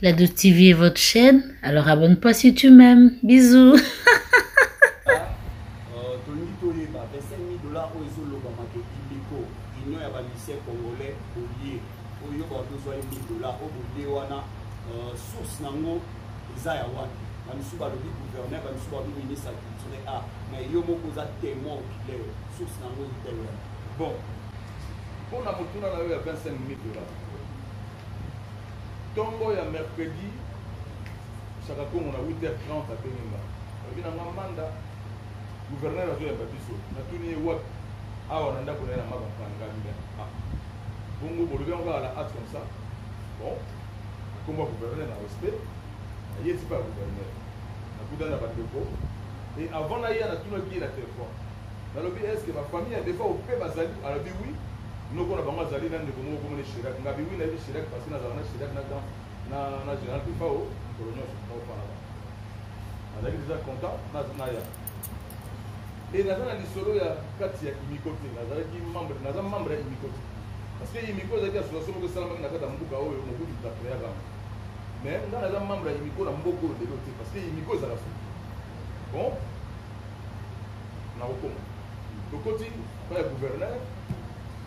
La de TV est votre chaîne, alors abonne-toi si tu m'aimes. Bisous. source nango eza ya wapi bamisusu balobi gouverneur bamisusu balobi ministre ya culture a mais yo moko oza témoin okileo source nango itewe bon mpo na motuna na yo ya 25 minutes dollars Tongo ya mercredi Shaka Kongo na 8h30 abengi nga alobi na nga manda gouverneur azoyamba biso natuni ye wapi awa na ndako na ye na nga bapangami na ah. bongo bolobi yango kaka na art comme ça bon akomba gouverneur na respect aye ezipa ya gouverneur nakutani na bandeko e avant naya natunaki ye na telefone nalobi eske ba famille ya defa ope bazali alobi wi noko na bango azali na ndeko moko komone shirak ngabi wi nayebi shirak parce nazala na shirak na dans na na general pifao kolo nyonso naofana ba nazalaki deja content naya e naza na lisolo ya kati ya imiko te nazalaki membre naza membre ya imiko te parce que imiko ezalaki association moko esalamaki na kati ya mboka oyo mobutu tapreaka mais nga naza membre ya imiko na mboka oyo lelo te parce que imiko ezala soki bon nakokoma tokoti epai ya gouverneur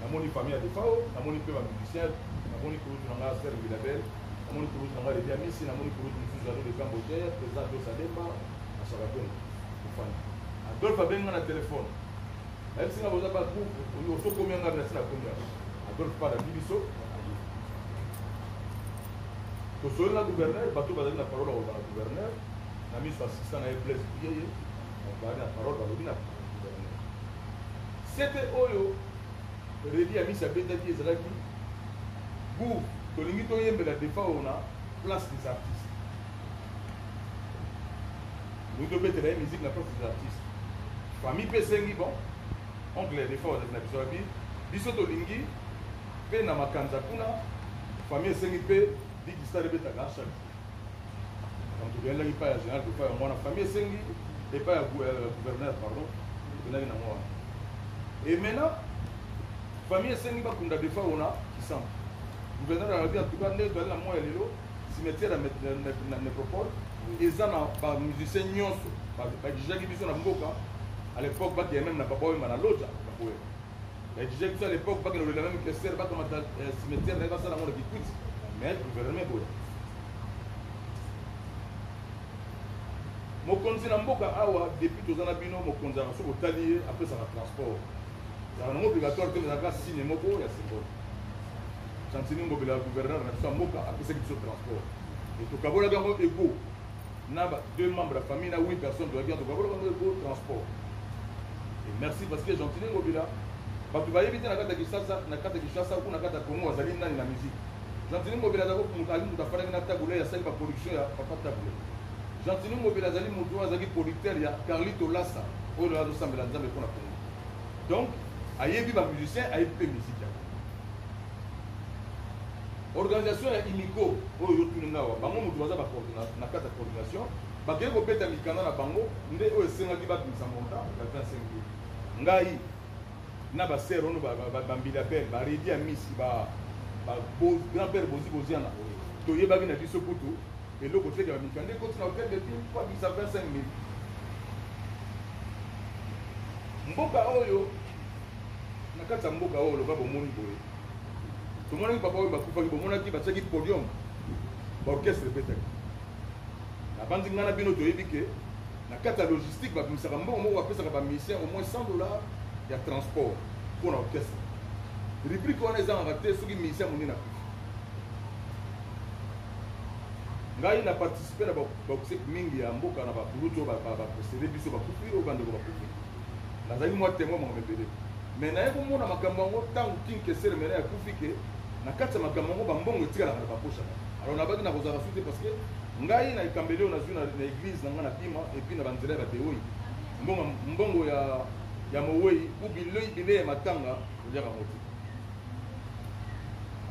namoni famille ya defao namoni mpe bamusicien namoni kulutu na ngai ser vilabel namoni kulutu na ngai lebi ya misi namoni kulutu mosusu ado de camboter président dosademba na sakatongo ofani adolphe abengi ngai na telefone ayebisi ngai boza bagroupe osokomi ya ngai nasi nakomi yango adolphe pa nalandi biso tosoli na gouverneur bato bazali na parole ya kozala gouverneur na miso ya sista na ye blaise biyeye babandi na parole balobi na sete oyo redi ya misi abetaki ezalaki bour tolingi toyembela defa oyo na place des artistes tolingi tobetela ye musique na place des artistes famille mpe esengi bon oncle ya defa ozali na biso abi biso tolingi mpe na makanza kuna famille esengi mpe bigistale ebetaka chaque tokendaki epai ya général epai ya mwana famille esengi epai ya euh, gouverneur pardon tokendaki nango wana e maintenant famille esengi bakunda defa ona kisambo gouverneur alobi antuka nde toyali na moya lelo cimetière ya necropole eza na bamusicien nyonso bakijaki biso na mboka à l'époque bakeye meme na baboyemba na loja bakoyeba Mais disais que ça à l'époque, pas que le même que c'est, pas comme un euh, cimetière, pas ça dans mon équipe. Mais le gouvernement est beau. mokonzi na mboka awa depuis toza na bino mokonzi aka soki otali ye apesaka transport ezalaka nango obligatoire te ezalaka signe moko ya symbole santini ngobela ya gouverneur na biso ya mboka apesaki biso transport etokabolaki yango ego na ba deux membres ya famille na 8 personnes toyaki antoka boloba ngo eko transport et merci parce que gentile ngobila bato bayebi te na kati ya kinshasa na kati ya kinshasa kuna kati ya congo azali nani na musique gentile ngobila azali moto ali moto afandaki na tabule asali baproduction ya papa tabule gentile ngobila azali moto oyo azalaki producteur ya carlito lasa oyo lelo azosambela nzambe mpo na congo donc ayebi bamusicien ayebi mpe musike yango organisation ya imiko oyo yotuni nga wa bango moto baza na kati ya coordination bakei kobeta mikanda na bango nde oyo esengaki babimisa monta ya 25 mille ngai na baser ono bambila bel baredi ya misi grand père bozi boziana toyebaki na biso kutu eloko tekela mikanda ekoti na hotel de ville po abimisa 25 mille mboka oyo na kati ya mboka oyo loka bomoni boye tomonaki papa oyo bakufaki bomonaki batiaki podium baorchestre ebetaki nabanzi ngai na bino toyebi ke na kati ya logistique babimisaka mbongo moko bapesaka bamusicien au moins 100 dollars ya transport mpo na orchestre rubrike wana ezangaka te soki musicien monene akufi ngai na participe na bakuseki mingi ya mboka na bakulutu oyo bakosele biso bakufi oyo bandeko bakufi nazali mwa temoin makambo ebele Mais naye komona makambo yango ntango King Kester Emeneya akufi ke na kati ya makambo yango bambongo etikalaka na baposha na alors nabaki na kozala su te parce que ngai na ekambeli oyo nazwi na eglise na ngai na bima epuis na banzela ya bateoi mbongo, mbongo ya, ya mowei u bilei bilei ya matanga oliaka yango te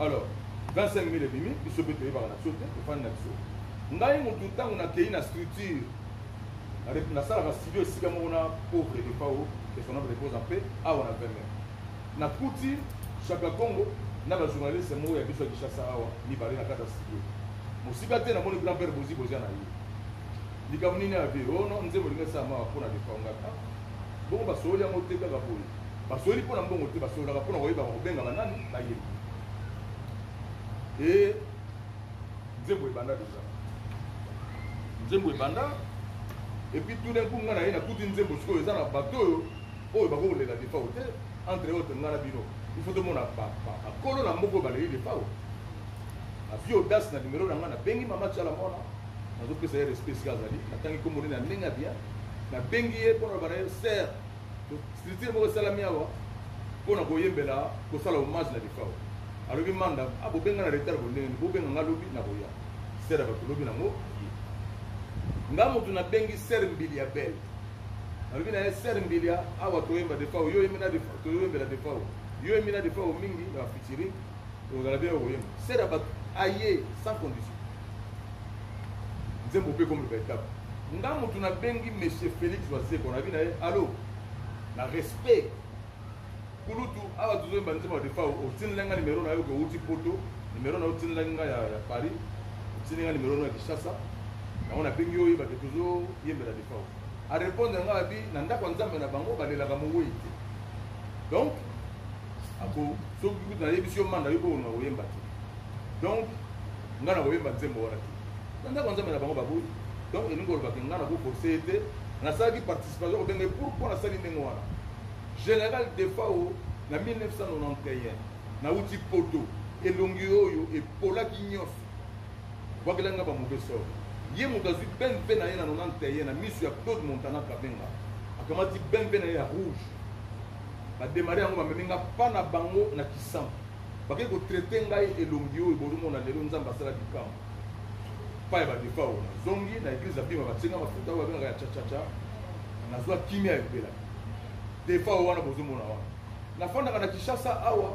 alors 25 000 ebimi biso mpe toyebaka na biso te tofandi na biso ngai motu ntango nakei na structure nasalaka studio esika moko na pauvre defao que son âme repose en paix awa na veme nakuti shaka congo na bajournaliste moko ya biso ya kinshasa awa mibale na kati ya studio mosika te namoni grand père bozi bozia na ye likambo nini ya vie ono oh nzembo elingi esala mawa mpo na defao ngaka bongo basololi yango te kaka boye basololi mpo na mbongo te basololaka mpo na koyebaka kobengaka nani bayebi e nzembo ebanda deja nzembo ebanda epuis tout d'un coup ngai naye nakuti nzembo sikoyo eza na bato oyo oyo bakokolela defao te entre autre ngai na bino ifo tomona bakolo na moko baleli defao azwi audace na nimero na ngai nabengi mama tiala mwana nazopesa ye respect esika azali natangi nkombo nini ya ndenge ya bien nabengi ye mpo na bana ye ser structure moko esalami awa mpo na koyembela kosala hommage na defao alobi manda abobenga ah, na retard bondenge bobenga nga lobi na koya ser ya bato lobi nango ye nga motu nabengi ser mbili ya bele alobi na ye ser mbili ya awa toyemba defao yo oyembi na defao toyembela defao yo oyembi na defao mingi na bafitiri ozala bia okoyemba ser ya bato aye sans condition nzembo mpe ekomi loba etape nga motu nabengi monsieur félix wazekwa nabi na ye alo na respect kulutu awa tozoyemba nzembo ya defao otinela nga nimero na yo ke outi poto nimero na yo otinela nga ya, ya paris otindi nga nimero na ya kinshasa yango nabengi yo oyeba ke tozoyembela defao arépondre nga abi na ndako ya nzambe na bango balelaka mowei te donc ako soki kutu nayebisi yo manda yo bokolinga koyemba te donc nga na koyemba nzembo wana te na ndako ya nzambe na bango baboyi donc elingi koloba ke nga na koforce ye te nasalaki participation kobenga ye pourkoi nasali ndenge wana général defao na 1991 nauti poto elongi oyo epolaki nyonso bwakela nga bamauvais sort ye moto azwi bmp na ye na 91 na miso ya claude montana kabenga akamati bmp na ye ya rouge bademare yango bamemi nga mpa na bango na kisango bake ko traite ngai elongi oyo bolumona lelo nzambe asala bikambo pa ya badefa oyo nazongi na eglise ya bima batie ngai mafuta oyo babengaka ya chachacha nazwa kimia ya mpela defa oyo wana bozomona wana nafandaka na kinshasa awa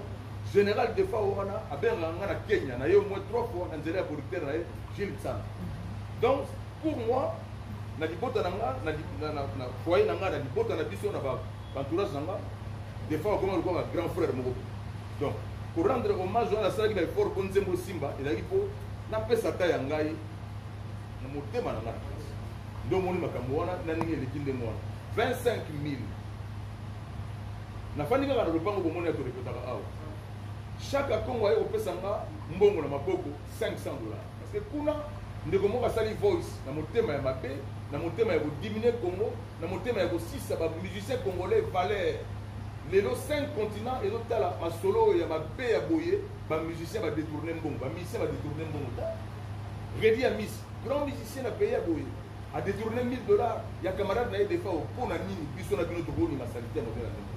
général defa oyo wana abengaka ngai na kenya na ye omoi trois fois na nzela ya producteur na ye gilles tsana donc pour moi na libota na nga na foyer na nga na libota na biso na ba Entourage na nga des fois okoma lokola grand frère moko donc ko rendre hommage wana asalaki ba effort mpo nzembo esimba ezalaki mpo napesa ta ya ngai na motema na ngai na kasi nde omoni makambo wana na ndenge eleki ndenge wana 25 000 nafandi kaka na lopango bomoni ya torepetaka awa chaque akongo aye kopesa nga mbongo na maboko 500 dollars parce que kuna ndeko moko asali voice na motema ya mabe na motema ya kodiminue congo na motema ya kosisa ba musiciens congolais valeur lelo 5 continent ezotala masolo oyo ya mabe ya boye ba musiciens ba détourner mbongo ba musiciens ba détourner mbongo ta Reddy Amis grand musicien na pays ya boye a détourner 1000 dollars ya camarade na ye defa mpo na nini biso na bino tokoni masalite ya modela ndenge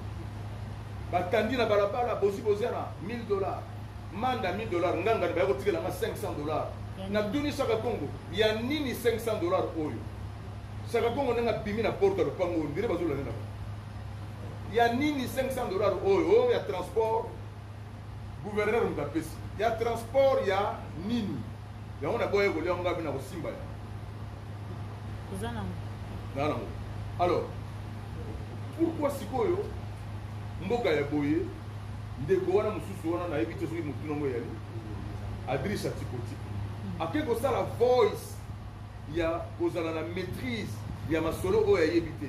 batandi na balabala bozi boziana 1000 dollars manda 1000 dollars nganga baya kotikela nga 500 dollars natuni saka kongo ya nini 500 dollars oyo Saka kongo nanga bimi na porte ya lopango oyo ndire bazolanda na bango ya nini 500 dollars oyo oyo ya transport gouverneur moto apesi ya transport ya nini yango naboya kolia yango ngabi na kosimba ya oza nango naa nango alors pourkoi sikoyo mboka ya boye ndeko wana mosusu wana nayebi te soki motuna yango eyali adrisa tipotiko ake kosala voice ya kozala na maîtrise ya masolo oyo ayebi te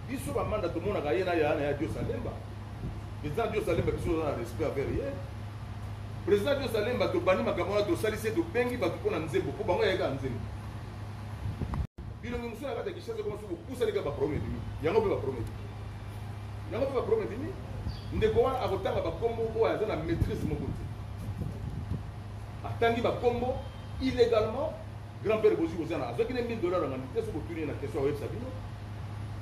biso bamanda tomonaka ye na yana ya diosa lemba président diosa lemba biso oza na respect avers ye président diosa lemba tobandi makambo wana tosalisi ye tobengi bato mpo na nzembo mpo bango yayeka nzembo bilongi mosusu na kati ya kishasa ekoma soki kopusani kaka baproblème ebimi yango mpe baproblème yango mpe baproblème ebimi ndeko wana akotanga bakombo oyo aza na maîtrise moko te atangi bakombo illégalement Grand père Bozi Bozana, azoki ne 1000 dollars na manite, soki otuni ye na question ya websa bino.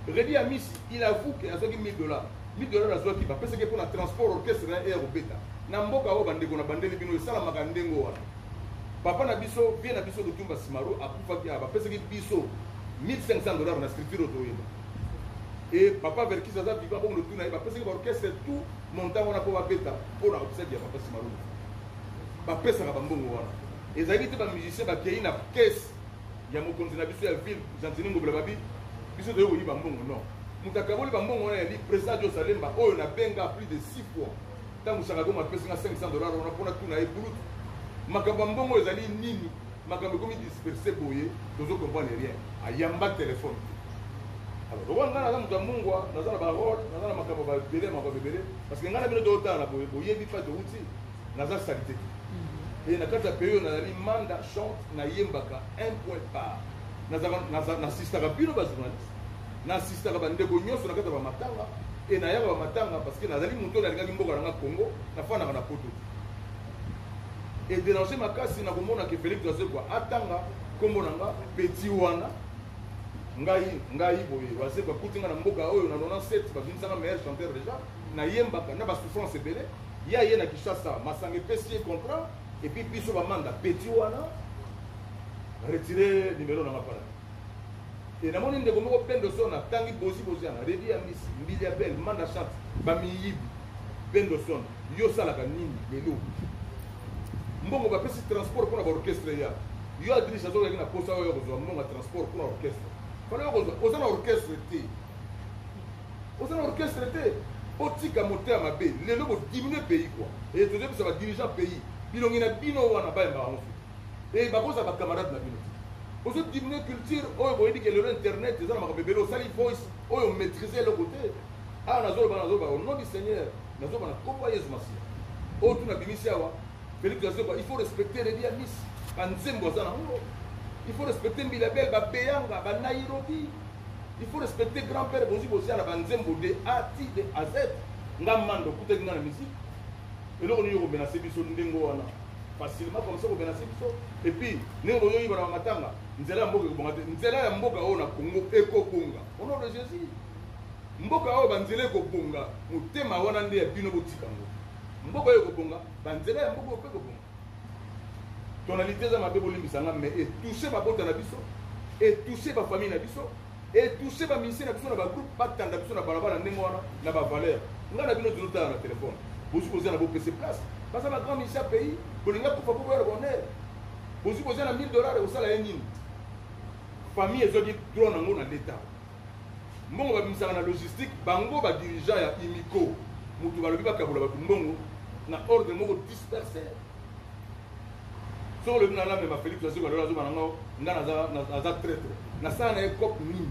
Reddy Amisi, il avoue que azoki 1000 dollars. 1000 dollars azoki ba pesa ke pona transport orchestre na air obeta. Na mboka oyo bandeko na bandeli bino esala maka ndengo wana. Papa na biso, vie na biso Lutumba Simaro akufaki aba pesa ke biso 1500 dollars na structure otoyeba. Et papa Verkis aza vivant bon le tuna ba pesa ke orchestre tout montant wana po ba beta pona obsède ya papa Simaro. Ba pesa ka ba mbongo wana. ezalaki te ba musiciens bakeyi na caisse ya mokonzi na biso ya ville gentini ngobela babi biso toyei koyiba mbongo non moto akaboli bambongo wana ya li président dio salemba oyo nabenga plus de 6 fois ntango sakagongo apesi nga 500 dollar wana mpona tuna ye bulutu makambo ya mbongo ezali nini makambo ekomi disperse boye tozo comprendre rien ayamba telefone alors lokola ngai naza moto ya mungwa naza na barole naza na makambo babele makambo ebele parce que ngai na bino toyotala na boye boyebi mpa towuti naza salite te et na kati ya pays oyo nazali manda chante nayembaka un point par nasistaka bino bajournaliste nasistaka bandeko nyonso na kati ya bamatanga e nayaka bamatanga parce que nazali moto oyo nalingaki mboka nanga congo nafandaka na poto e dérange makasi nakomona ke félix azekwa atanga nkombo na nga petit wana ngai ngai boye bazekwa kuti nga na mboka oyo na 97 babimisanga meilleur chanteur déjà nayembaka na basouffrance ebele Ye aye na Kinshasa, masanga epesi ye contrat et puis biso ba manda petit wana retirer numero na nga pana. Et namoni ndeko moko Pendo Son atangi bozi bozi yana Redi ya Miss, Mbili ya Belle, Manda Chante, ba miyibi. Pendo Son, yo osalaka nini lelo? Mbongo bapesi transport mpo na ba orchestre ya yo adrisi azokaki na posa oyo kozwa mbongo ya transport mpo na orchestre fana yo kozwa oza na orchestre te Oza na orchestre te. Botika moto ya mabe. Lelo bo diminuer pays quoi. Et tozo bisa ba dirigeants pays. Bilongi na bino wana ba yamba yango. Et bakoza ba camarades na bino. Ozo diminuer culture oyo boyebi ke lelo internet eza na makambo ebele osali voice oyo maîtriser eloko te. Ah nazo ba nazo ba au nom du Seigneur nazo ba na kombo ya Yesu Masiya. Oyo tuna bimisi awa Félix Azoba il faut respecter les bien miss. Banzembo aza na ngo. Il faut respecter Mbilabel, Babeyanga, Banairobi, il faut respecter grand père bozi bozi ala banzembo de a ti de a z nga mando okutaki nga na musique eloko nini okomenase biso ndenge wana facilement comme ça okomenase biso epuis ndenge oyoyiba na bamatanga nzela ya mboka ekobonga te nzela ya mboka oyo na congo ekobonga au nom de jésus mboka oyo banzela ekobonga motema wana nde ya bino botika yango mboka oyo ekobonga banzela ya mboka oyo mpe ekobonga tonalite eza mabe bolimbisa nga mais etouche babota na biso etouche bafamille na biso etouche bamisie na biso na bagroupe batanda biso na balabala ndenge wana na bavaleur nga na bino tozotala na telefone bozi kozia na bopese place baza na grand misie ya pays bolinga kufa po boya na bonheur bozi kozia na 1000 dollar ekosala ye nini famille ezwaki droit nango na leta mbongo babimisaka na logistique bango ba dirigeant ya imico moto balobi bakabola bato mbongo na ordre moko disperse soki olobi na namema félix azoka lelo azoba na ngo ngai naza traitre nasala na ye cope nini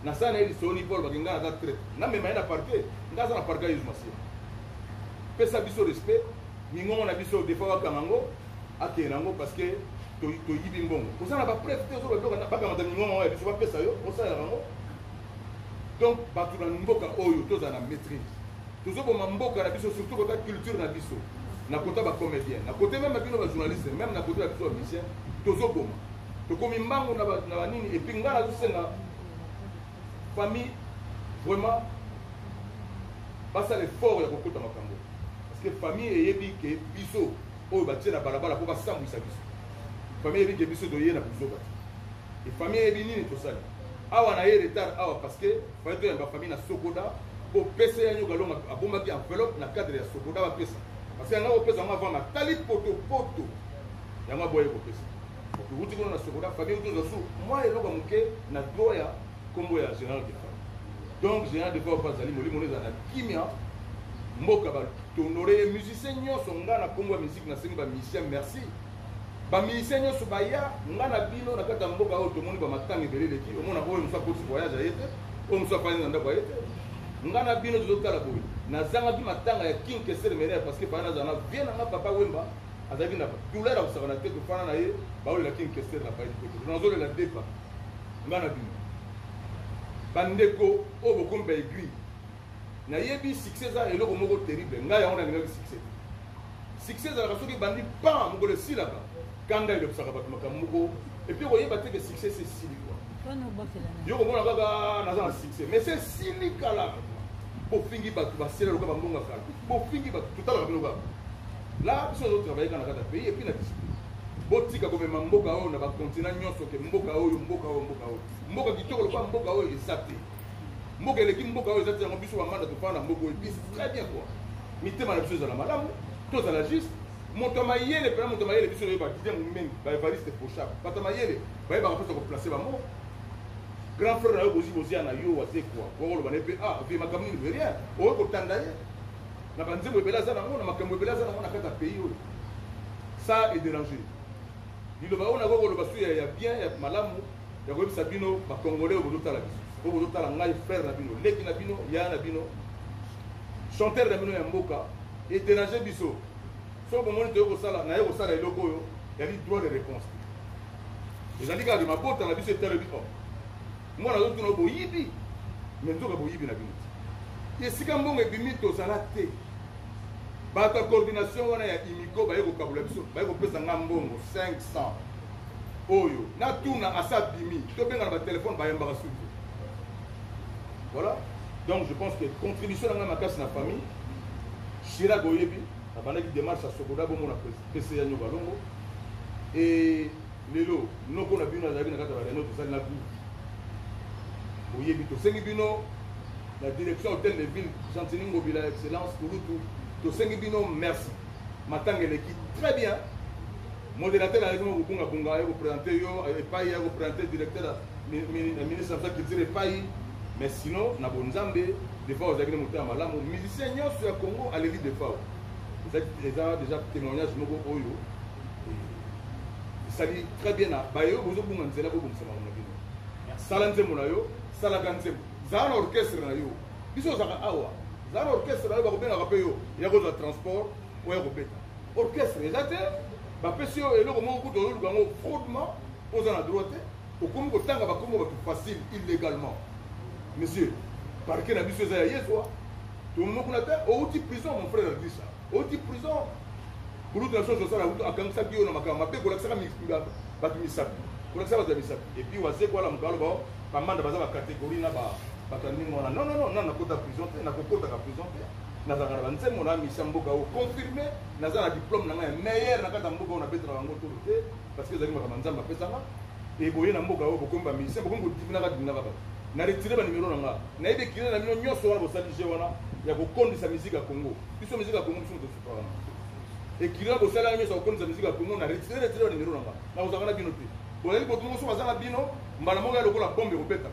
nasala na ye lisoni mpo alobaki ngai naza traitre namema ye na parquet ngai aza na parquet yesu masiya pesa biso respect mingongo na biso defa bakanga ngo akende nango parce que toyibi mbongo oza na bapreve te ozobakamata mingongo ya biso bapesa yo osalela bango donc bato na mboka oyo tozala na maîtrise tozoboma mboka na biso surtout kota culture na biso na kota bacomédien na kote meme bino bajournaliste meme na kote na biso bamisien tozoboma tokomi mbango na banini epuis ngai nazosenga famille vraiment basala effort ya kokota makambo parce que famille eyebi ke biso oyo batie na balabala mpo basambwisa biso famille eyebi ke biso toye na buzoba te efamille eyebi nini tosali awa na ye retard awa parce que faye toyamba famille na sokoda mpo pese ya nyoka longa abombaki enveloppe na cadre ya sokoda bapesa parce que yanga kopesa yango avanga tali potopoto yango aboye kopesa okuti kuna na sokoda famille tozwa su mwa eloko moke na droit ya kombo ya general defa donc general defa oyo azali molimo ezala na kimia mboka batondore ye musicien nyonso ngai na kombo ya miziki nasengi bamusicien merci bamusicien nyonso baya ngai na bino na kati ya mboka oyo tomoni bamatanga ebele eleki omona oyo mosu akoti voyage aye te oyo mosu afandi na ndako aye te ngai na bino tozotala boye nazangaki matanga ya king kesele menere parce que bana nazala na vie na nga papa wemba azalaki na douleur akusaka na te tofana na ye baolela king kesele na baye te nazolela deba nga na bino bandeko oyo bokomi ba aiguille nayebi succès eza eloko moko terrible ngai yango nalingaki succès succès ezalaka soki ebandi pa mokolo esilaka kanda elobisaka bato makambo moko epuis okoyeba te ke succès se esili kwa yo komona kaka ah, naza na succès mais se esili kala bofingi bato basela loka bambonga kala bofingi bato totalaka bino kaka la biso tozo travailler kaka na kati ya pays epuis na discipline botika komema mboka oyo na bakontina nyonso ke mboka oyo mboka oyo mboka oyo mboka kitoko lokola mboka oyo eza te mboka eleki mboka oyo eza te yango biso bamanda tofana na mboka oyo bisi très bien kua mitema na biso ezala malamu tozala juste moto ya mayele mpena moto ya mayele biso toyeba didie momengi baevariste pochab bato ya mayele bayebaka mposa koplace bango grand frère na yo bozi bozia na yo waze kua okoloba na ye mpe ah vie makambo nini rien oyo kotanda ye na ba nzembo ebele aza nango na makambo ebele aza nango na kati ya pays oyo ça est dérange liloba oyo nakoki koloba su ya bien ya malamu ya koyebisa bino bacongolais oyo bozotala biso oyo bozotala ngai frère na bino leki na bino yaya na bino chanteur na bino ya mboka ederange biso soki bomoni toye kosala naye kosala eloko oyo yali droit de réponse ezali kaka mabota na biso etalobi o oh, Moi nazo tuna boyibi mais nzoka boyibi na bino te. Esika mbongo ebimi tozala te. Bato ya coordination wana ya imiko baye kokabula biso baye kopesa nga mbongo 500 oyo natuna asa bimi tobengana batelefone bayambaka suki voilà donc je pense que contribution na ngai makasi na famille shira boyebi abandaki démarche ya sokoda bomona pese ya nyoka longo et lelo noko na bino azalaki na kati ya bareunion tosali na groupe boyebi tosengi bino la direction hôtel de ville gentini ngobila excellence kulutu tosengi bino merci matanga eleki très bien modérateur ayaki mo kobungabunga aye kopresente yo epai aye kopresente directeur ya ministre ya culture epai mais sinon na bonzambe defao ozalaki na motema malamu musicien nyonso ya congo aleli defao eza déjà témoignage moko oyo esali très bien na baye oyo bozobunga nzela bobongisa makambo na bino sala nzembo na yo salaka nzembo zala na orchestre na yo biso ozalaka awa zala na orchestre na yo bakobengaka mpe yo ya kozwa transport oya kobeta orchestre eza te bapesi yo eloko moko kutu oyoluka yango fraudement oza na droit te okomi kotanga bakombo bato facile illegalement monsieur parke na biso eza ya yezwa tomokuna te outi prison mon frère adisa oti prison kulutu na soso osala kutu akangisaki yo na makambo mabe kolakisaka bato misapi kolakisa bato ya misapi epuis wazeko alamuka aloba oh, bamanda baza bacatégorie na bato ya ndenge wana non non non na nakota prison te nakokotaka prison te nazalaka na banzembo na misia mboka oyo confirme naza na diplôme na ngai ya meilleur na kati ya mboka oyo nabetelaka yango tolo te parce que ezalaki makambo nzambe apesaka eboye na mboka oyo bokomi bamisien bokomi kodivinaka divinaka bato na retire banimero na ngai nayebi ekile na bino nyonso wana bosali je wana ya kokondisa miziki ya congo biso musique ya congo biso moto sukaka na ekila bosalaka nyonso akokomisa musique ya congo na retire retire ba numero na nga nakozalaka na bino te bolali botu mosusu baza na bino mbala moko ya lokola bombe ekobeta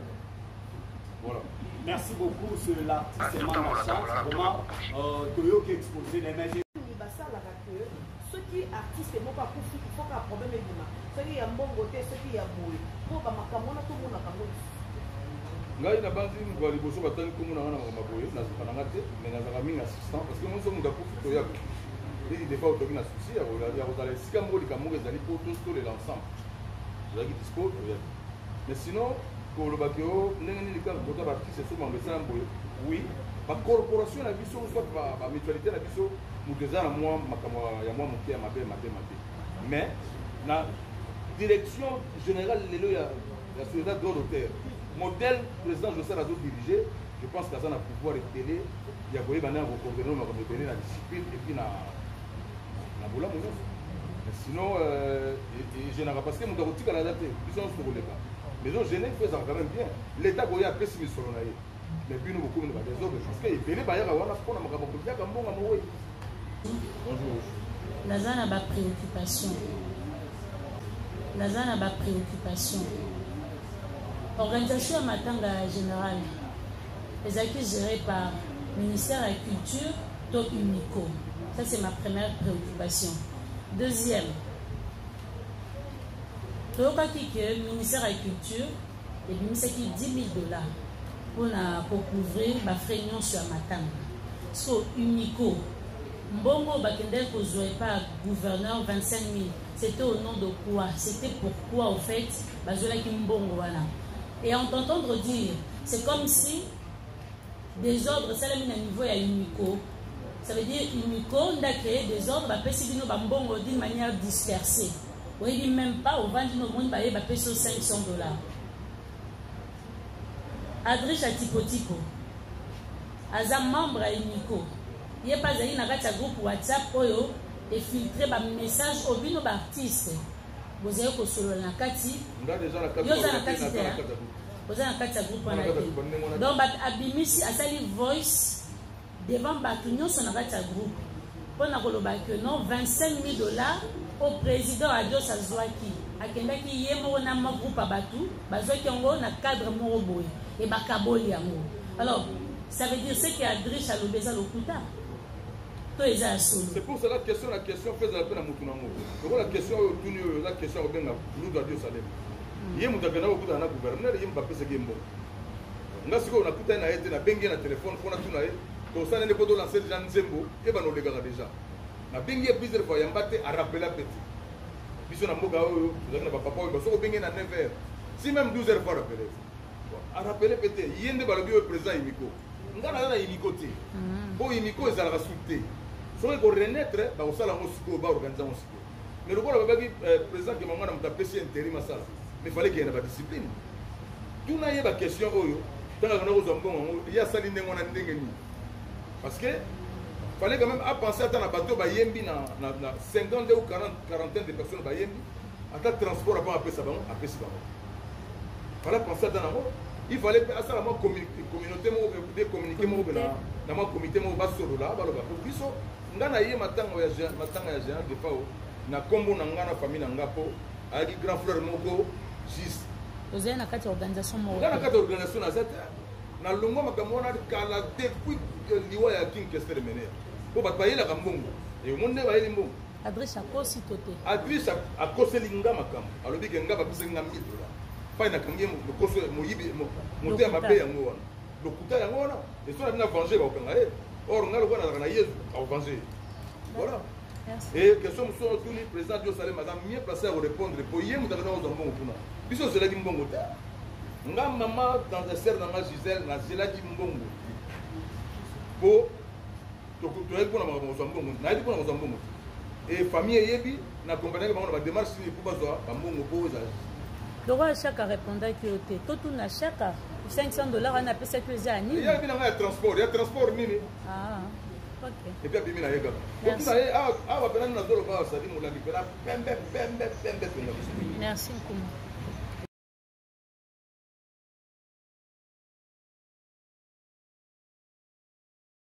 voilà merci beaucoup ce l'artiste manga chance vraiment euh, toyoki exposé na image soki artiste moko akufi il faut ka problème ebima soki ya mbongo te soki ya boye mpo bamakambo wana tomonaka ngo ngai nabanzi moto ya liboso batali nkombo na nga na makambo boye nazoka na nga te mais nazalaka mingi assistant parce que monso moto akufi toya leki defa otoki na souci ya kozala esika moko likambo moko ezali mpo totolela ensemble tozalaki dispo toya mais sinon koloba ke o ndenge nini kaka kota baartiste so mambo esala boye oui bacorporation na biso soit bamutualité na biso moto eza na mwa makambo ya mwa moke ya mabe mabe mabe mais na direction générale lelo ya ya société droit d'auteur modèle président josal azo dirige je pense que aza na pouvoir ebele ya koyeba nde ya kocoordonne makambo ebele na discipline epuis na na bolamu nyonso sinon euh, egenaka parce que moto akotikala aza te biso nyonso tokoleka maison gene mpe ezalaka quand même bien l'état koya apesi misolo na ye Mais bino bokomi na ba désordre parce que ebele bayaka wana mpona makambo kolyaka mbongo ya mowei. Bonjour. Naza na ba préoccupation. Naza na ba préoccupation. Organisation ya matanga ya général ezalaki géré par ministère ya culture to unico. Ça c'est ma première préoccupation. Deuxième, toyokaki ke ministère ya culture ebimisaki 10000 dollars mpona kocouvrir bafrais nyonso ya matanga so unico mbongo bakendaki kozwa epa gouverneur 25000 c'était au nom de quoi c'était pourquoi au fait bazwelaki mbongo wana et en t'entendre dire c'est comme si désordre esalami na niveau ya unico ça veut dire unico ndake désordre bapesi bino bambongo d'une manière dispersée Oyebi meme pas ovandi no omoni baye bapesi yo 500 dollars. Adrisha tipo tipo aza membre ya Nico. Ye pa azali na kati ya groupe WhatsApp oyo efiltre ba message oyo bino ba artiste bozali kosolola na kati. Yo oza na kati te. Oza na kati ya groupe wana te. Donc abimisi asali voice devant batu nyoso na kati ya groupe mpo na koloba que non 25 000 dollars au président adios azwaki akendaki ye moko na ma groupe ya batu bazwaki yango na cadre moko boye e bakaboli yango alors ça veut dire ce que adriche alobi eza lokuta to eza ya solo c'est pour cela question na question mpe ezala mpe na motu nango lokola question oyo otuni oyo eza question ya kobenga lutu adios alema ye moto akendaki kokutana na gouverneur ye moto apesaki ye mbongo nga sikoyo nakutani na ye te nabengi ye na telefone mpo natuna ye tosana nde mpo tolanse deja nzembo ye bana olekaka deja nabengi ye plusieurs fois yamba te arapela mpe te biso na mboka oyo tozalaki na bapapa oyo basoki obenge na 9 heures si même 12 heures fois arapele arapele mpe te ye nde balobi oyo président imiko nga naza na imiko te mpo mhm. imiko ezalaka su te soki ekorenaître bakosala yango sikoyo baorganize yango mais lokola babaki euh, président kema mwana moto apesi interim asala mais fale kende na badiscipline tuna ye baquestion oyo ntango akenda kozwa mbongo yango ye asali ndenge wana ndenge nini parce que fallait quand même apenser ata na bato bayembi na 52 ou 40 quarantaine de personnes bayembi ata transport apa apesa bango apesi bango fallait apenser ata nango il fallait mpe asala mwa communauté moko de communiqué moko mpe na mwa comité moko basolola baloba po biso nga na ye matanga ya matanga ya Jean Defao na kombo na nga na famille na nga po ayaki grand frère moko juste ozali na kati ya organisation moko nga na kati ya organisation naza te na longwa makambo wana kala depuis euh, liwa ya king kester mener po bato bayelaka mbongo omoni nde bayeli mbongo adresse akosi to te adresse akoseli nga makambo alobi ke nga bapesaki nga 1000 dola pai nakangi lokoso moyibi motema mabe yango wana lokuta yango wana esoki abina venge bakokanga ye or ngai lokola nazalaka na yezu akovange ye voilà e question mosusu oyo tuni président dio salem aza mieux place ya korépondre po ye moto akendaka kozwa mbongo kuna biso ozelaki mbongo te nga mama dangesere na nga gisele nazelaki mbongo te po toyebi mpona makambo kozwa mbongo nayebi mpona kozwa mbongo te e famille eyebi na accompagnaki bango na bademarche nini mpo bazwa bambongo mpo ezala lokola shaka arepondaki yo te totuna shaka 500 dollar wana apesaki yo eza ya nini yayebi na ngai ya transport ya transport nini ah, epi abimi na ye kaka otuna ye awa mpena nini nazoloba asali molangi mpena pembe pembe pembe mpenza merci nkuma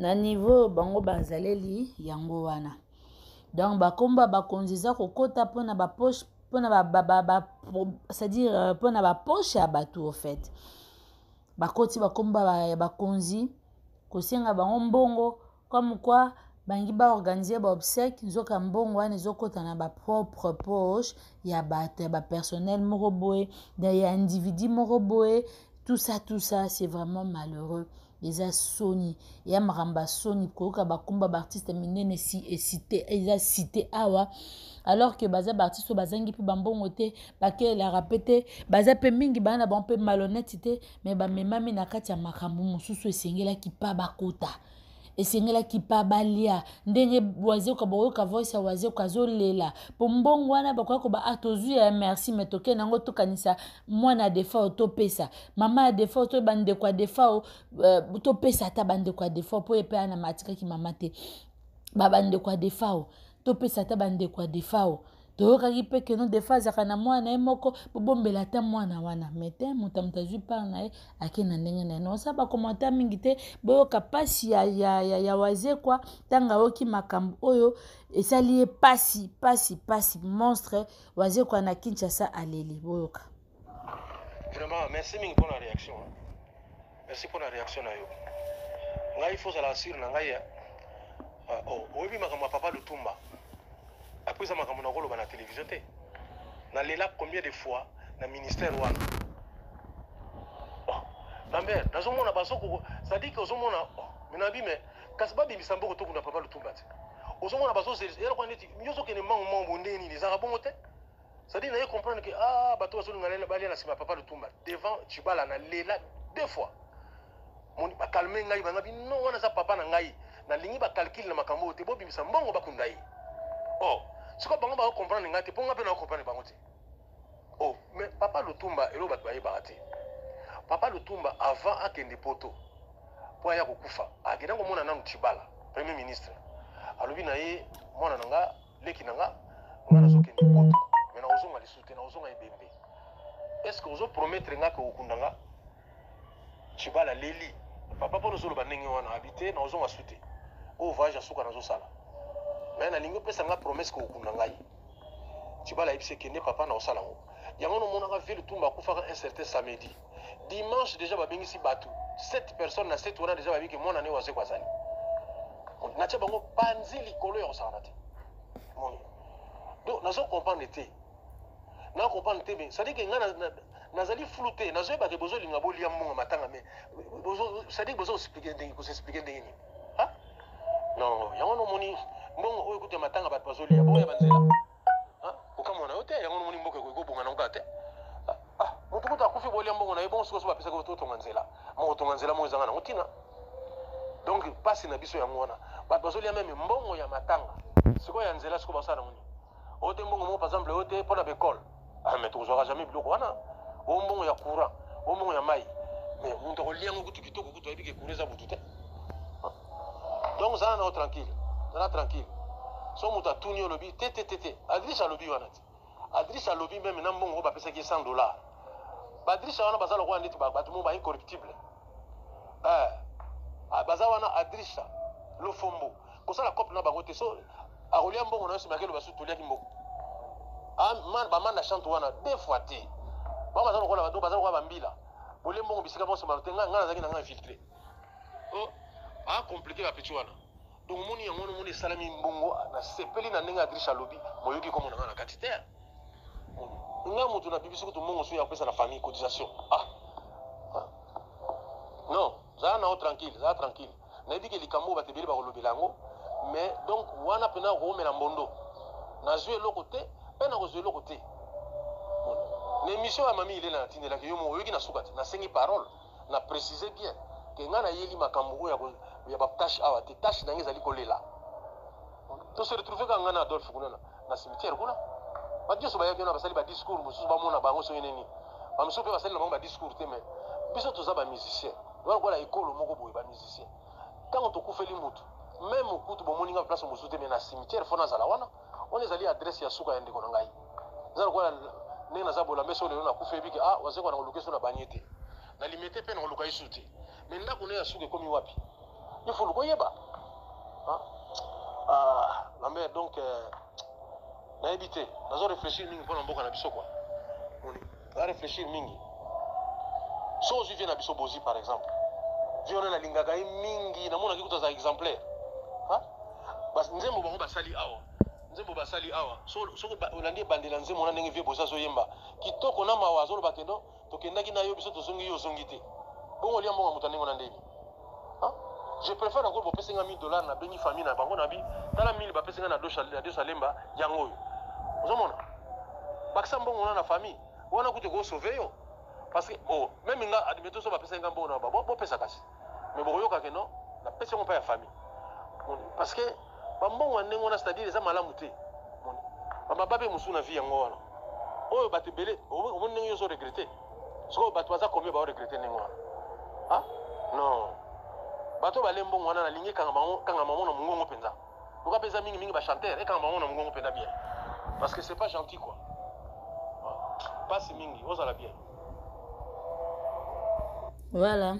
na niveau oyo bango bazaleli yango wana donc bakombo ya bakonzi eza kokota mpona bapoche mpona c'est-à-dire euh, mpona bapoche ya bato au fait bakoti bakombo ya bakonzi kosenga bango mbongo comme quoi bangi ba organiser ba obsèque nzoka mbongo wana ezokota na ba propre poche ya bato ya ba personnel moko boye ya individu moko boye tout ça tout ça c'est vraiment malheureux eza soni ya makambo ya soni koyoka bakumba baartiste minene esite eza site awa alors que baza baartiste oyo bazangi mpe bambongo te bakelelaka mpe te baza mpe mingi bana na bango mpe malhonnete te mais bamemami na kati ya makambo mosusu esengelaki mpa bakota esengelaki pa balia ndenge wazeka boyoka voice ya wazeka azolela mpo mbongo wana bakoya koba a ah, tozwi ya merci me tokei nango tokanisa mwana ya defao topesa mama ya defao to bandeko ya defao uh, eh, topesa ata bandeko ya defao mpo ye mpe ana matikaki mama te babandeko ya defao topesa ata bandeko ya defao toyokaki mpe keno defa azalaka na mwana na ye moko bobombela ata mwana wana mai te moto ya moto azwi part na ye ake na ndenge na ye naosala bakomantar mingi te boyoka mpasi ya, ya, ya, ya wazekwa ntango ayoki makambo oyo esali ye mpasi mpasi mpasi monstre wazekwa na kinshasa aleli boyoka vraiment merci mingi mpona réaction merci mpona réaction na yo ngai fo ozala assure na ngai eh. ah, oh, oyebi makambo ya papa lutumba apres eza makambo na koloba na télévision te nalela combien de fois na ministère wana oh, bamber nazomona bazoko cestadire ke ozomona oh, minabi me kasi babimisa mboko tokunda papa lutumba te ozomona bazozeleloko neti nyonso okende mbango mbango bonde nini ezalaka bongo te cest dire naye comprendre que ah bato bazolinga balia na nsima papa lutumba devant chibala na lela deux fois bakalme ngai banga bino wana aza papa na ngai nalingi bacalcule na makambo oyo te bobimisa mbongo bakunda ye o oh, sikoyo bango bakocomprendre ngai te mpo ngai mpe nakocomprendre bango te o oh, mais papa lutumba eloko bato bayebaka te papa lutumba avant akende poto mpo aya kokufa akenda komona nanu chibala premier ministre alobi na ye mwana na ngai leki na nga nga nazokende poto me nakozonga lisusu te nakozonga ebembe est ce que ozo promettre nga ke okunda nga cibala leli papa mpo nozoloba ndenge wana abi te nakozonga su te oyo oh, voyage ya suka nazosala me nalingi opesa nga promesse ke okunda ngai cibala ayebisi ekende papa nakosala yango yango nomonaka ville tumba akufaka un certain samedi dimanche deja babengisi bato 7 personnes na 7 wana deja bayebi ke mwana ne wazeko azali natya bango panzi likolo ya kosakana te moni donc nazo comprendre te na comprendre te mais cestadire ke ngai nazali flou te nazoyeba ke bozolinga bolia mbongo matanga mais cestadire bozo explike ndenge kosexplike ndenge nini non yango nomoni mbongo oyo kutu ya matanga bato bazolia bongo ya banzela kokamwa na yo te yango nomoni mboka ekoki kobonga nango kaka te motu kutu akufi bolia mbongo na ye bongo sikoso bapesaki otonga nzela moko tonga nzela moko ezanga nango ntina donc mpasi na biso yango wana bato bazolia meme mbongo ya matanga sikoyo ya nzela sikoyo basala nango nini oyo te mbongo moko par exemple oyo te mpo na baekole ah, mais tokozwaka jamais biloko wana oyo mbongo ya courant oyo mbongo ya mai mais moto akolia yango kutu kitoko kutu ayebi ke courant eza butu te donc zala nao tranquille zala tranquille so moto atuni yo olobi te te te te adriche alobi wana te adriche alobi meme na mbongo oyo bapesaki ye 100 dollar baadriche wana baza lokola ndeti bato moko ba incorruptible eh, ah, baza wana adriche lofombo kosala cope na bango te so akolia mbongo na yo nsima akeloba su toliaki mbongo ah, bamanda chante wana deux fois te bango baza lokola bato baza lokola bambila bolie mbongo bisika bonso bato te ngai nazalaki na ngai infiltre a compliqué ba petit wana donc omoni yango wana omoni esalami mbongo nasepeli na ndenge adriche alobi moyoki komo na nga na kati te nga moto nabibisi kutu mbongo soki yakopesa na famille cotisation ah. ah. non zala nao tranquille zala tranquille nayebi ke likambo oyo bato ebele bakolobela yango mais donc wana mpena okoomela mbondo nazwi eloko te mpe nakozwa eloko te na émission ya mami ilela natindelaki yo moko oyoki na suka te nasengi parole Na preciser bien que nga na yeli makambo oyo ya ba tâche awa te. Tâche na nga ezali kolela. To se retrouver ka nga na Adolphe kuna na cimetière kuna. Ba dioso ba yaki na basali ba discours mususu ba mona bango soki nini. Ba mususu pe basali na bango ba discours te mais biso toza ba musiciens. Donc voilà ekolo moko boye ba musiciens. Tango tokufeli mutu même kutu bomoni nga place mususu te mais na cimetière fona zala wana. wana ezali adresse ya suka ya ndeko na ngai eza lokola ndenge naza bolame so lelo nakufa yebi ke ah waze kwana koluka eso na banie te na lime te mpe na koluka yesu te me ndako na ye ya suka ekomi wapi ifo luka oyeba lambe ah, ah, donc euh, nayebi te nazo réfléchir mingi mpo na mboka na biso kua Oza reflechir mingi. So ozwi vie na biso bozi par exemple. Vie wana nalingaka ye mingi, namonaki kutu aza exemplaire. Ha? Bas nzembo bango basali awa. Nzembo basali awa. So so olandi ebandela nzembo wana ndenge vie bozi azoyemba. Kitoko na mawa azoloba ke non, tokendaki na yo biso tozongi yo ozongi te. Bongo lia mbongo moto ndenge na ndenge. je préfère encore bopesi nga 1000 dollars nabengi famille na bango nabi tala 1000 bapesi nga na dosalemba yango oyo ozomona bakisa mbongo wana na famille wana kutu ekosauve yo parce que oh, meme nga admeto so bapesaki nga mbongo na baba bopesa kasi mais bokoyoka ke non napesi yango mpa ya famille parce que Ba mbongo ya ndenge wana c'est à dire eza malamu te. Moni. Ba mababe mosusu na vie yango wana. Oyo bato ebele omoni ndenge ozo regretter. Sikoyo bato baza combien ba regretter ndenge wana. Ah? Non. Bato bale mbongo wana nalingi kanga bango kanga bango na mongongo mpenza. Loka mpenza mingi mingi ba chanteur ekanga bango na mongongo mpenza bien. Parce que c'est pas gentil quoi. Ah. Pasi mingi ozala bien. voilà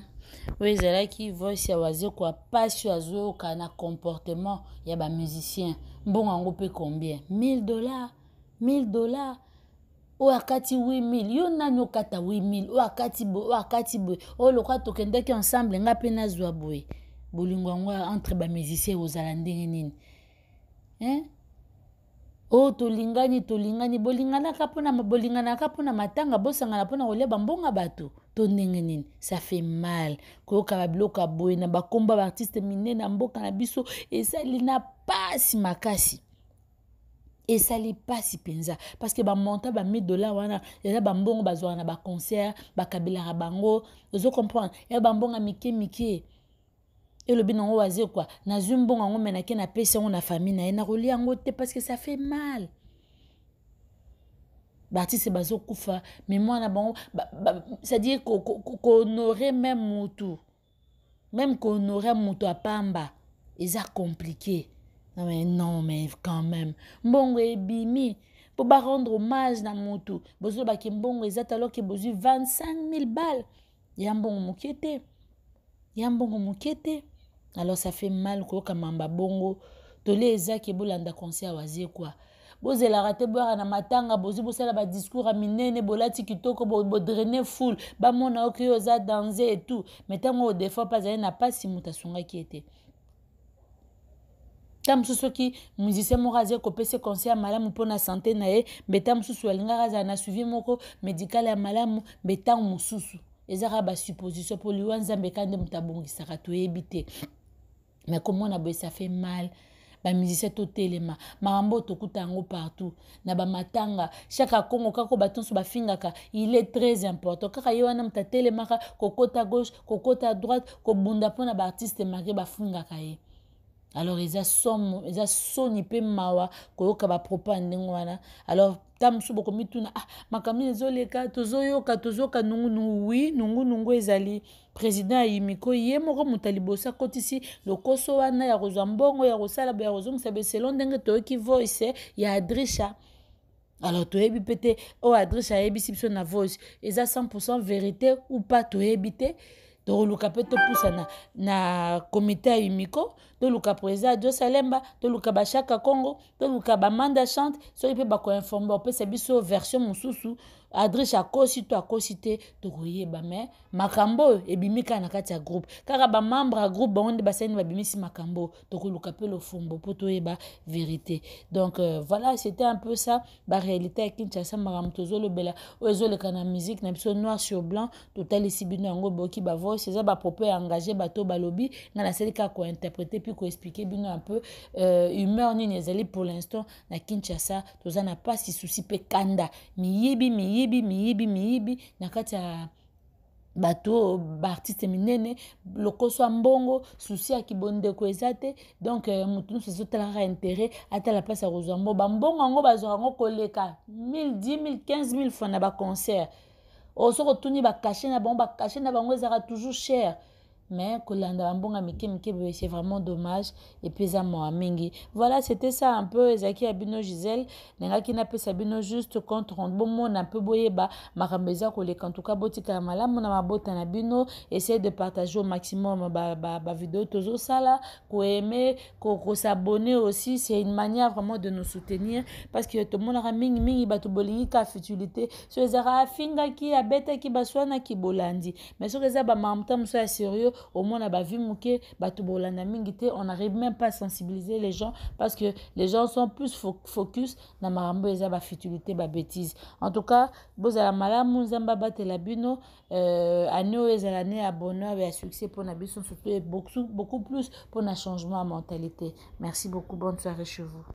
oyo ezalaki voice ya wazekwa mpasi oyo azoyoka na comportement ya bamusicien mbongo yango mpe combien 1000 dollars 1000 dollars oyo akati 8000 yo nani okata 8000 oyo akati boye oyo akati boye oyo lokola tokendaki ensemble ngai mpe nazwa boye bolingo yango entre bamusicien ekozala ndenge nini eh? o oh, tolingani tolingani bolinganaka mpona bolinganaka mpona matanga bosangana mpona kolia bambonga bato to ndenge nini ça fait mal koyoka babiloko ya boye na bakomba baartiste minene ya mboka na biso esali na mpasi makasi esali mpasi mpenza parceke bamonta ba 1000 dollar wana eza bambongo bazwaka na baconcert bakabelaka bango ozo comprendre ya bambongo ya mike mike elobi nango wazekwa nazwi mbongo yango me nake napesi yango na famille na ye nakolia yango te parce que ça fait mal baartiste bazokufa me mwana bango c'est-à-dire kohonore meme mutu meme kohonore mutu apamba eza compliqué mais non mais quand même mbongo ebimi mpo barendre hommage na mutu bozolobaki mbongo eza te alors ke bozwi 25 000 balle ya mbongo moke te ya mbongo moke te alors ça fait mal koyoka mamba bongo toli eza ke bolanda conseil ya waze kua bozelaka te boyaka na matanga bozwi bosala badiscours ya minene bolati kitoko bodraine bo foule bamona oke yo oza danze etout mai ntango odefa mpe azali na mpasi moto asungaki ye te ntango mosusu soki musicien moko azali kopesa conseil ya malamu mpo na sante na ye mbe ntango mosusu alingaka azala na suivi moko médical ya malamu mbe ntango mosusu eza kaka basupposition mpo liwa nzambe kaka nde moto abongisaka toyebi te mais komona boye ça fait mal bamusicien totelema makambo oyo tokuta yango partout na bamatanga shaka kongo kako bato nyonso bafingaka il est très important kaka ye wana moto atelemaka kokota gauche kokota droite kobunda mpo na baartiste mari bafingaka ye alors eza somo eza soni mpe mawa koyoka bapropos ya ndenge wana alors ta mosusu bokomituna ah makambo nini ezoleka tozoyoka tozoyoka nungunungu wi nungunungu ezali president ayimiko ye moko moto ya liboso akotisi lokoso wana ya kozwa mbongo ya kosala boye ya kozongisa boye selon ndenge toyoki voice ya adrisha alors toyebi mpe te oyo oh, adresse ayebisi biso na voice eza 100 verité ou pas toyebi te toluka mpe topusana na komite ya umiko toluka président ya josalemba toluka bashaka congo toluka bamanda chante soki mpe bakoinforme bapesa biso version mosusu adresse akosi to akosi te tokoyeba mais makambo oyo ebimi kaka na kati ya groupe kaka bamembre ya groupe bango nde basali nde babimisi makambo oyo tokoluka mpe lofumbo mpo toyeba verité donc euh, voilà c'était un peu ça baréalité ya kinshasa makambo tozolobela oyo ezoleka na musique na biso noir sur blanc totalisi bino yango boyoki bavoice eza bapropos ya engage bato oyo balobi ngai nasali kaka kointerprete mpe koexplike bino un peu euh, humeur nini ezali pour l'instant na kinshasa toza na mpasi susi mpe kanda miyibi miyibi miyibi miyibi na kati ya bato oyo baartiste minene lokoso ya mbongo susi ya kibondeko eza te donk euh, moto nyonso azotalaka intérêt atala mpasi ya kozwa mbongo bambongo yango bazwaka yango koleka 1000 10 15000 franc na baconcert oyo soki otuni bakashe na bango bakashe na bango ezalaka toujours cher mais kolanda bambonga mike mike boye c'est vraiment dommage epuis eza mawa mingi voilà c'était ça un peu ezalaki ya bino gisele nengaki napesa bino juste compte rendu bomona mpe boyeba makambo eza koleka ntuka botikala malamu na mabota na bino essaye de partager au maximum bavideo tozosala koaime kosabonne aussi c'est une manière vraiment de nous soutenir parce que tomonaka mingi mingi bato bolingi ka futilité so ezalaka afingaki abetaki baswanaki bolandi mais soki eza bamamta mosusu ya sérieux omona bavi moke bato bolanda mingi te on arrive même pas sensibiliser les gens parce que les gens sont plus fo focus na makambo eza bafutilité babétise en tout cas bozala malamu nzambe abatela bino euh, année oyo ezala ne ya bonheur ya succès mpo na biso surtout beaucoup, beaucoup plus mpo na changement ya mentalité merci beaucoup bonne soirée chez vous